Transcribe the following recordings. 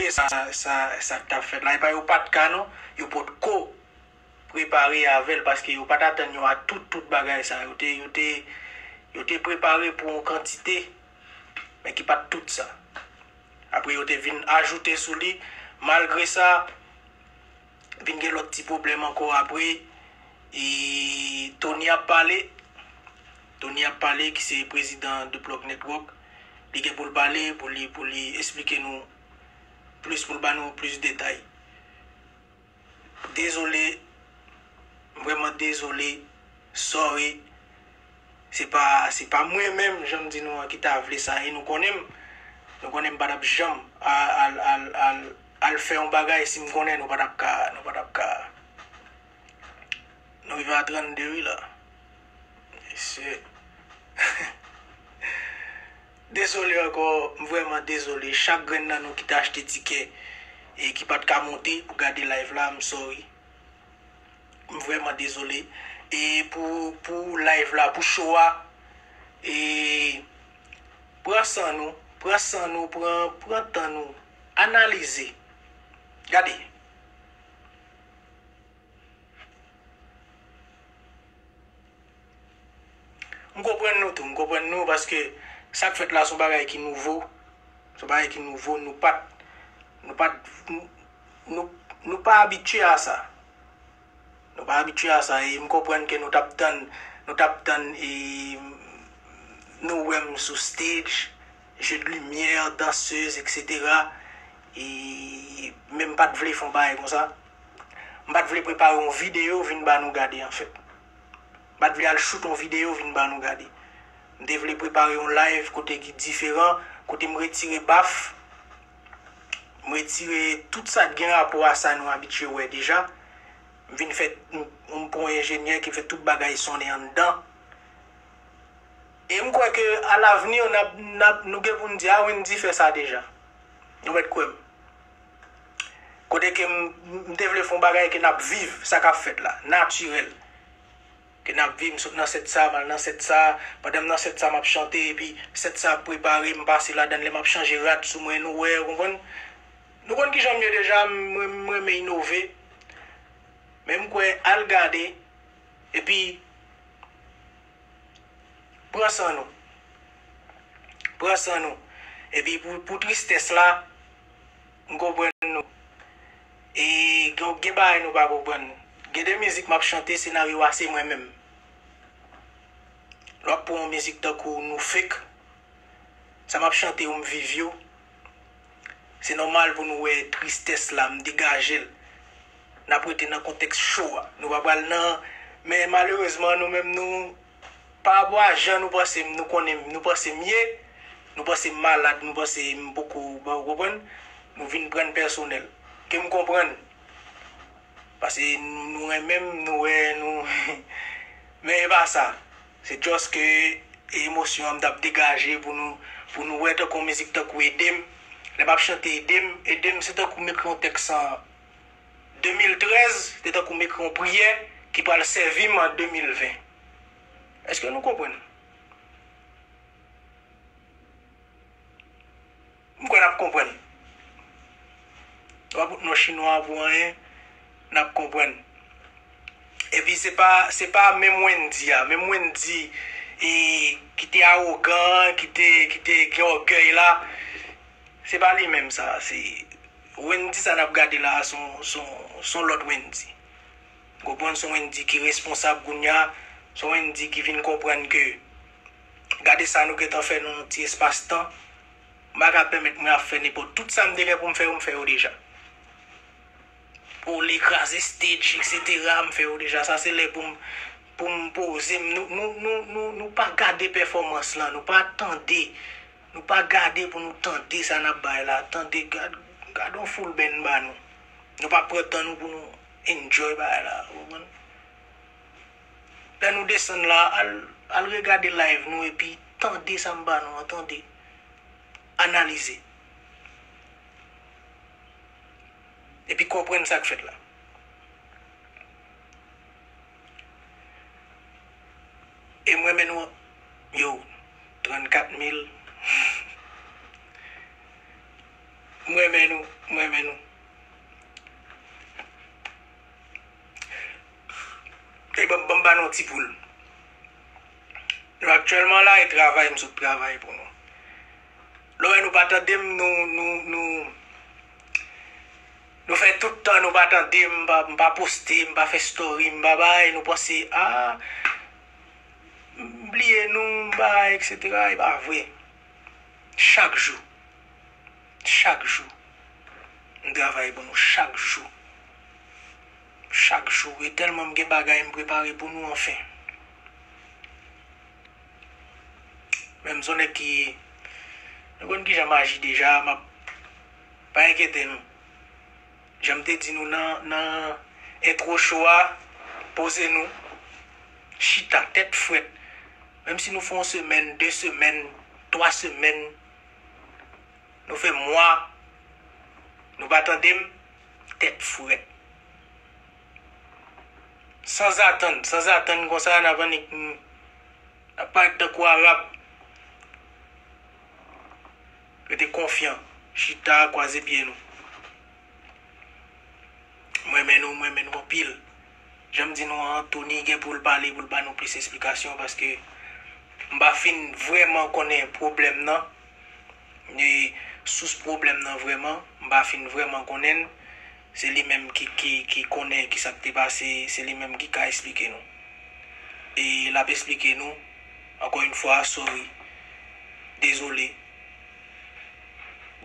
E sa sa sak tap fèt la epa yo pat ka non yo pot ko prepare avèl paske yo pat atann yo a tout tout bagay sa yo te yo te yo te prepare pou yon kantite men ki pat tout sa apre yo te vin ajoute sou li malgre sa Vin gen lot ti pwoblem anko apre e Tony ap pale Tony ap pale ki se prezidan de plug network li gen poul pale pou li pou li esplike nou plis poul ba nou plis detay dezole m vreman dezole sorry Se pa se pa mwen menm jan m di nou an ki ta vle sa e nou konnen m. Nou konnen m pa t ap janm al al al al fè yon bagay si m konnen nou pa t ap ka nou pa t ap ka Nou rive a 32 wi la. Mesye Dezole ankò, m vrèman dezole. Chak grenn nan nou ki te achte tikè e ki pa t ka monte pou gade live la, m sòri. M vrèman dezole e pou pou live la pou show a e pran san nou pran san nou pran pran tan nou analize gade M konprann nou tou, m konprann nou paske sa k fèt la se yon bagay ki nouvo, se yon bagay ki nouvo nou pa t, nou pa t, nou, nou pa abitye a sa. Nou pa abitye a sa e m konprann ke nou t ap tann, nou t ap tann e nou wè m sou stage, jeux de lumière, danseuse etc. E men m pa t vle fè yon bagay konsa. M pa t vle prepare yon videyo vin ba nou gade anfèt. Mpa t vle al shoot on video vin ba nou gade. M te vle prepare on live kote ki diferan, kote m retire baf, m retire tout sa t gen rapò a sa nou abitye wè deja. M vin fè, m pran on enjenyè ki fè tout bagay sonnen anndan. E m kwè ke a l'avenir nap, nap, nou gen pou n di a Wendy fè sa deja. Nou mèt kwè m. Kote ke m m te vle fè yon bagay ke n ap viv sa k ap fèt la, natirèl. Ke n ap viv, m sot nan sèt sa, m al nan sèt sa, pandan m nan sèt sa m ap chante epi sèt sa ap prepare m pase ladan l lè m ap chanje rad sou mwen nou wè, ou konprann. Nou konn kijan m ye deja, m renm m renmen inove. Men m kwè al gade epi. Pran san nou. Pran san nou. Epi pou pou tristès la, m konprann nou. E gen gen bagay nou pa konprann. Gen de mizik m ap chante senaryo a se mwen menm. Lè w ap pran yon mizik tankou nou fek, sa m ap chante yo m viv yo. Se nòmal pou nou wè tristès la m degaje l. N ap rete nan kontèks cho a. Nou pa pral nan Men malerezman nou menm nou Parapò a jan nou panse m nou konnen m nou panse m ye Nou panse m malad nou panse m poko bon ou konprann Nou vin pran n pèsonèl Ke m konprann Pase nou renmen m nou wè nou Men e pa sa Se just ke e emosyon an m t ap degaje pou nou Pou nou wè tankou yon mizik tankou Ede m Lè m ap chante ede m ede m se tankou m ekri yon tèks an 2013 te tankou m ekri yon priyè ki pral sèvi m an 2020. Eske nou konprann? M kwè n ap konprann. Nou pa bout non chinwa pou anyen, n ap konprann. Epi se pa, se pa menm Wendy a, menm Wendy e ki te awogan an, ki te, ki te gen ògèy la, se pa li menm sa a, se. Wendy sa nap gade la a s on lòt Wendy. Ou konprann? S on Wendy ki responsab kounya, s on Wendy ki vin konprann ke gade sa nou gentan fè nan yon ti espas tan, m pa ka pèmèt mwen ap fè nenpòt. Tout sa m te gen pou m fè yo, m fè yo deja. Pou li kraze stage eksetera, m fè yo deja. Sa se lè pou m pou m poze m. Nou pa gade pèfòmans lan, nou pa tande. Nou pa gade pou nou tande sa nap bay la tande gad gadon foul benn ba nou nou pa pran tan nou pou nou enjoy bagay la ou konprann lè nou desann la al al regade live nou epi tande sam ba nou an tande analize epi konprann sak fèt la. E m renmen nou anpil yow 34 mil m renmen nou m renmen nou e banm banm ba nou yon ti poul nou aktyèlman la e travay m sot travay pou nou lè w wè nou pa tande m nou nou nou. Nou fè tout tan nou pa tande m m pa poste m pa fè story m pa bay nou panse ah m bliye nou m bay etc e pa vre chak jou chak jou m travay pou nou chak jou chak jou e tèlman m gen bagay m prepare pou nou anfen menm son nèg ki nou konn kijan m aji deja m ap Pa enkyete nou. Jan m te di nou nan nan entwo show a, poze nou, chita tèt frèt. Menm si nou fè yon semèn, 2 semèn, 3 semèn, nou fè mwa nou pa tande m, tèt frèt. San zatann, san zatann konsa n ap annik n ap parèt tankou Arab. Rete konfyan. Chita kwaze pye nou. M renmen nou, m renmen nou anpil. Jan m di nou an, Tony gen pou l pale, pou l ba nou plis esplikasyon paske m pa fin vrèman konnen pwoblèm nan, sous pwoblèm nan vrèman. M pa fin vrèman konnen l. Se li menm ki konnen ki sa k te pase, se li menm ki ka esplike nou. E l ap esplike nou, ankò yon fwa, sorry, dezole,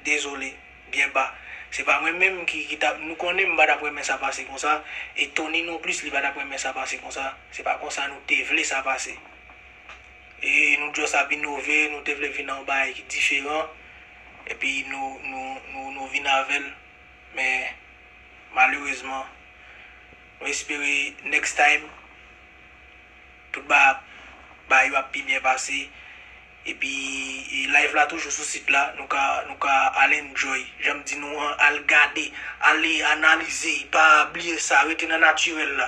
dezole, byen ba. Se pa mwen menm ki t ap, nou konnen m pa t ap renmen sa pase konsa, e Tony non plis li pa t ap renmen sa pase konsa, se pa konsa nou te vle sa pase. E nou just ap inove, nou te vle vin nan yon bagay ki diferan, epi nou vin avè l. men malerezman nou espere next time tout bagay yo ap pi byen pase epi live la toujou sou sit la nou ka nou ka al enjoy janm di nou an al gade ale analize pa bliye sa rete nan natirèl la.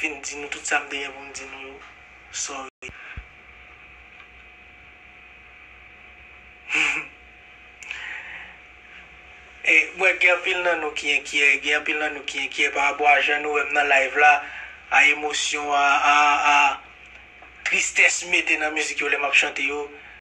fin di nou tout sa m te gen pou m di nou yo sorry humm e m wè gen anpil nan nou ki enkyè gen anpil nan nou ki enkyè pa rapò a jan nou wè m nan live la a emosyon a a tristès m mete nan mizik yo lè m ap chante yo